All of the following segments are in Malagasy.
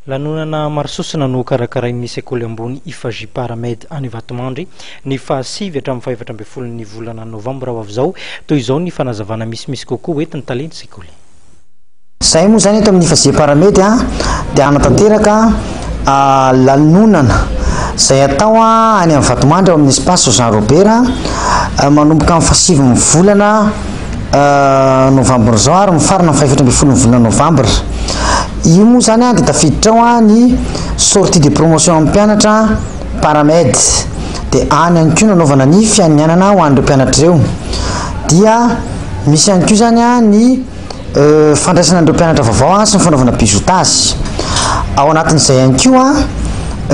Lanonana maro sosona no karakarain'ny sekoly ambony Ifaji Paramed any Vatomandry, ny faha sivy hatramin'ny fahefatra ambin'ny folon'ny volana novambra ho avy izao. Toy izao ny fanazavana misimisy kokoa hoentin'ny talen'ny sekoly. Izahay moa izany eto amin'ny Ifaji Paramed dia hanatanteraka lanonana izay atao any amin'ny Vatomandry ao amin'ny Espace Jean Robert manomboka amin'ny faha sivy ny volana novambra izao ary mifarana ny faha efatra ambin'ny folo ny volana novambra. Io moa izany dia tafiditra ao ny sortie de promotion amin'ny mpianatra paramed. Dia any ihany koa nanaovana ny fianianana ho an'ireo mpianatra ireo. Dia misy ihany koa izany ny euh, fandraisana an'ireo mpianatra vaovao sy ny fanaovana bizutage. Ao anatin'izay ihany koa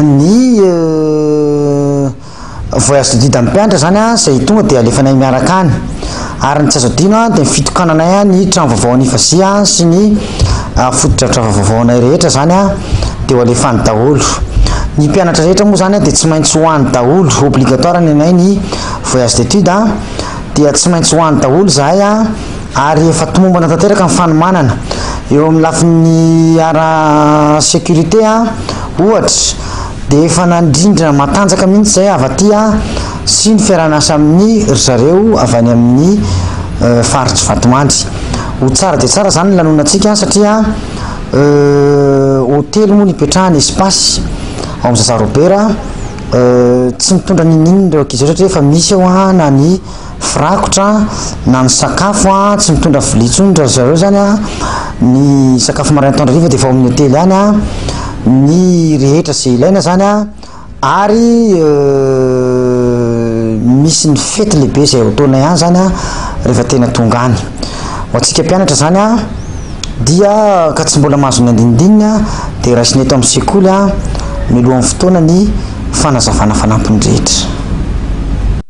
ny euh, Voyage de Dida Mpianatra izany izay tonga dia alefanay miaraka any. Ary ny tsy azo adino dia ny fitokananay ny trano vaovao any Ivasia sy ny fotodrafitrasa vaovaonay rehetra izany dia ho alefany daholo. Ny mpianatra rehetra moa izany dia tsy maintsy ho any daholo, obligatoire ny anay ny voyage d'étude dia tsy maintsy ho any daholo izahay ary efa tomombana tanteraka ny fanomanana. Eo amin'ny lafiny ara sécurité ohatra, dia efa nandrindra matanjaka mihitsy izay avy aty sy ny fiaraha-miasa amin'ny ry zareo avy any amin'ny euh, faritr'i Vatomandry. Ho tsara dia tsara izany ny lanonantsika satria euh, hotely moa ny ipetrahany espace ao amin'ny Zaza Robert euh, tsy mitondra n'inon'inona ireo ankizy ireo satria efa misy eo na ny firakotra na ny sakafo an, tsy mitondra vilia intsony ry zareo zany an, ny sakafo maraina atoandro hariva dia efa ao amin'ny hotely any an, ny rehetra izay ilaina zany an, ary misy ny fety lehibe izay ao taona ihany zany an rehefa tena tonga any, ho antsika mpianatra zany an dia ka tsy mbola mahazo ny andinindininy an dia raisina eto amin'ny sekoly an mialohan'ny fotoana ny fanazavana fanampiny rehetra.